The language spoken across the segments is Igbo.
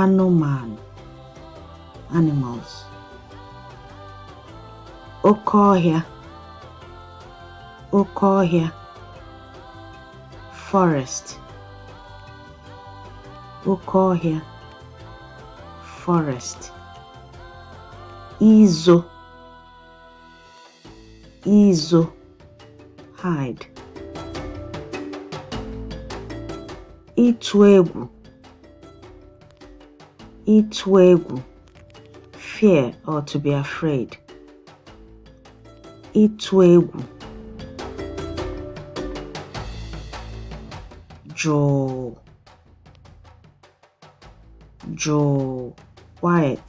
anụmanụ animals oke ọhịa oke ọhịa forest oke ọhịa forest izo izo hide ịtụ egwu ịtụ egwu fear or to be afraid ịtụ egwu jụụ jụụ quiet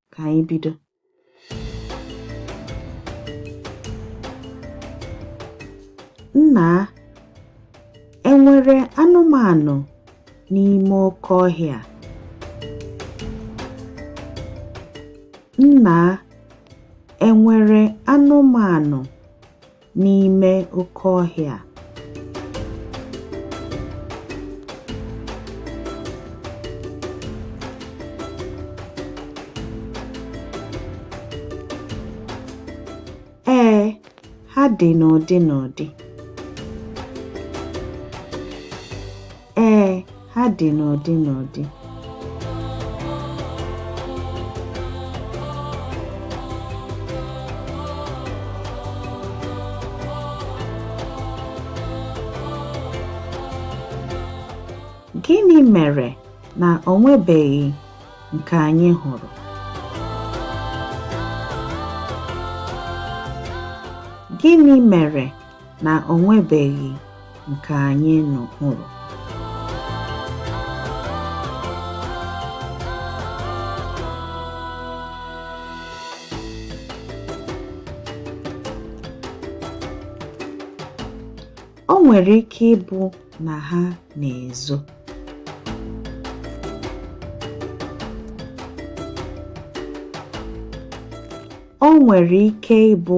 ka anyị bido nna enwere anụmanụ n'ime oke ọhịa nna enwere anụmanụ n'ime oke ọhịa Ee, ha dị n'ụdị n'ụdị. Ee, ha dị n'ụdị n'ụdị. Gịnị mere na o nwebeghị nke anyị hụrụ? Gịnị mere na o nwebeghị nke anyị nụ hụrụ. O nwere ike ịbụ na ha na-ezo. O nwere ike ịbụ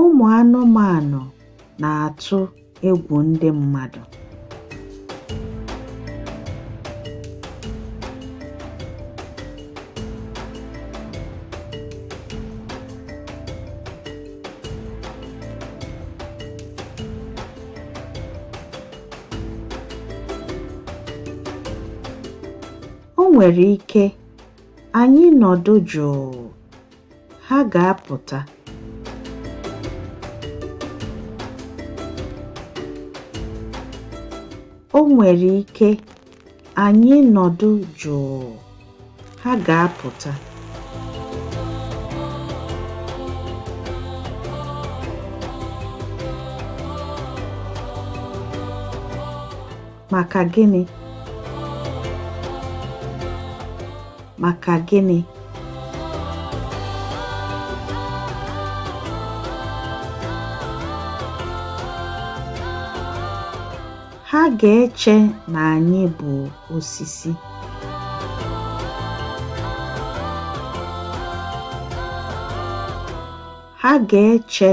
Ụmụ anụmanụ na-atụ egwu ndị mmadụ. O nwere ike anyị nọdụ jụụ Ha ga-apụta. O nwere ike anyị nọdụ jụụ, ha ga-apụta. Maka gịnị? Maka gịnị? Ha ga-eche na anyị bụ osisi. Ha ga-eche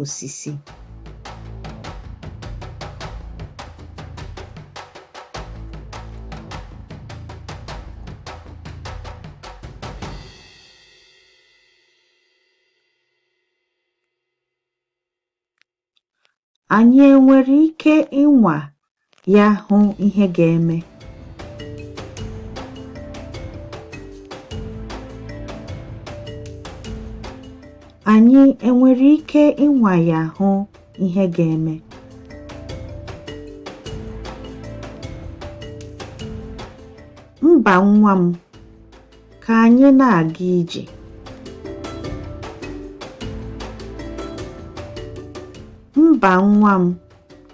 osisi. Anyị enwere ike ịnwa ya hụ ihe ga-eme anyị enwere ike ịnwa ya hụ ihe ga-eme mba nwa m ka anyị na-aga ije mba nwa m